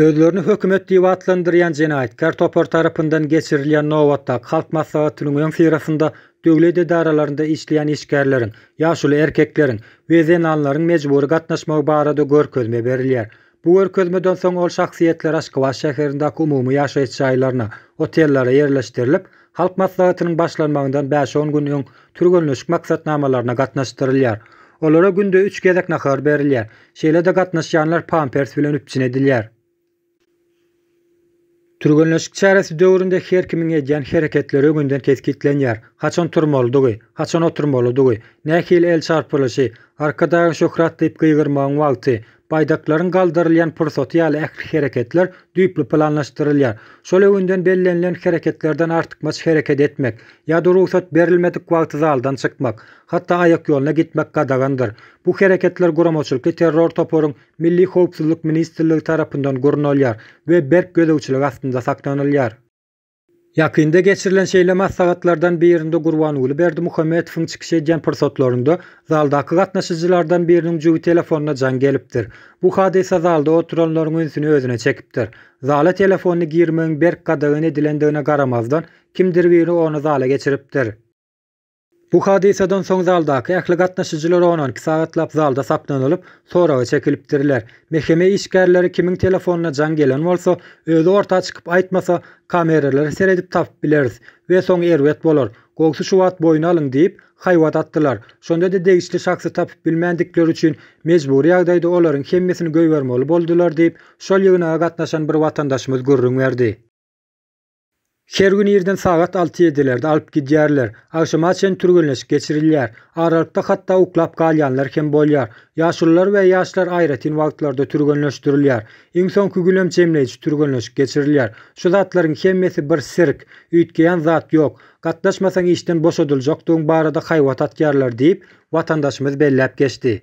Özlerini hökümet diýip atlandyrýan jenaýatkär topar tarapyndan geçirilýän nobatdaky halk maslahatynyň öňüsyrasynda döwlet edaralarynda işleýän işgärleriň, ýaşuly erkekleriň we zenanlaryň mejbury gatnaşmagy barada görkezme berilýär. Bu görkezmeden soň ol şahsyýetler Aşgabat şäherindäki umumy ýaşaýyş jaýlaryna, otellere ýerleşdirilip, Halk Maslahatynyň başlanmagyndan bäş-on gün öň türgenleşik maksatnamalaryna gatnaşdyrylýar. Olara günde üç gezek nahar berilýär. Şeýle-de gatnaşýanlar pampers bilen üpjün edilýär. Türgenleşik çäresi döwründe her kimiň edýän hereketleri öňünden kesgitlenýär, haçan turmalydygy, haçan oturmalydygy, nähili el çarpylyşy, Arkadagyň şöhrat diýip gygyrmagyň wagty, baýdaklaryň galdyrylýan pursaty ýaly ähli hereketler düýpli planlaşdyrylýar. Şol öňünden bellenilen hereketlerden artykmaç hereket etmek ýa-da rugsat berilmedik wagty zaldan çykmak, hatda aýakýoluna gitmek gadagandyr. Bu hereketler guramaçylykly terror toparyň Milli howpsuzlyk ministrligi tarapyndan gurnalýar we berk gözegçilik astynda saklanylýar. Ýakynda geçirilen şeýle maslahatlardan birinde Gurbanguly Berdimuhamedowyň çykyş edýän pursatlarynda zaldaky gatnaşyjylardan biriniň jübi telefonyna jaň gelipdir. Bu hadysa zalda oturanlaryň ünsüni özüne çekipdir. Zala telefony girmegiň berk gadagan edilendigine garamazdan, kimdir biri ony zala geçiripdir. Bu hadysadan soň zaldaky ähli gatnaşyjylar onan iki sagatlap zalda saklanylyp, soraga çekilipdirler. Mehkeme işgärleri kimiň telefonyna jaň gelen bolsa, özi orta çykyp aýtmasa, kameralara seredip tapyp bileris we soň erbet bolar. Gowsy şu wagt boýun alyň diýip, haýbat atdylar. Şonda-da degişli şahsy tapyp bilmändikleri üçin mejbury ýagdaýda olaryň hemmesini goýbermeli boldular diýip, şol ýygnaga gatnaşan bir watandaşymyz gürrüň berdi. Her gün irden sagat alty-ýedilerde alyp gidýärler. Agşama çen türgenleşik geçirilýär. Aralykda hatda uklap galýanlar hem bolýar. Ýaşulular we ýaşlar aýratyn wagtlarda türgenleşdirilýär. Iň soňky gün hem jemleýji türgenleşik geçirilýär. Şu zatlaryň hemmesi bir sirk. Üýtgeýän zat ýok. Gatnaşmasaň işden boşadyljakdygyň barada haýbat atýarlar diýip, watandaşymyz belläp geçdi.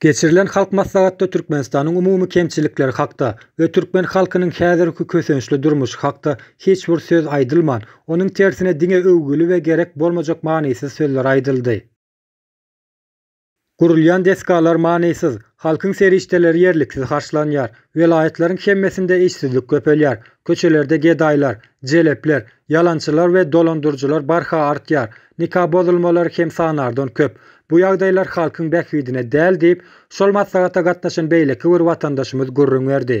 Geçirilen Halk Maslahatda Türkmenistanyň umumy kemçilikleri hakda we türkmen halkynyň häzirki kösençli durmuşy hakda hiç bir söz aýdylman, onuň tersine diňe öwgüli we gerek bolmajak manysyz sözler aýdyldy. Gurulýan desgalar manysyz, halkyň serişdeleri ýerliksiz harçlanýar, welaýatlaryň hemmesinde işsizlik köpelýär, köçelerde gedaýlar, jelepler, Ýalançylar we dolandyryjylar barha artýar, nika bozulmalary hem sanardan köp. Bu ýagdaýlar halkyň bähbidine däl diýip, şol maslahata gatnaşan beýleki bir watandaşymyz gürrüň berdi.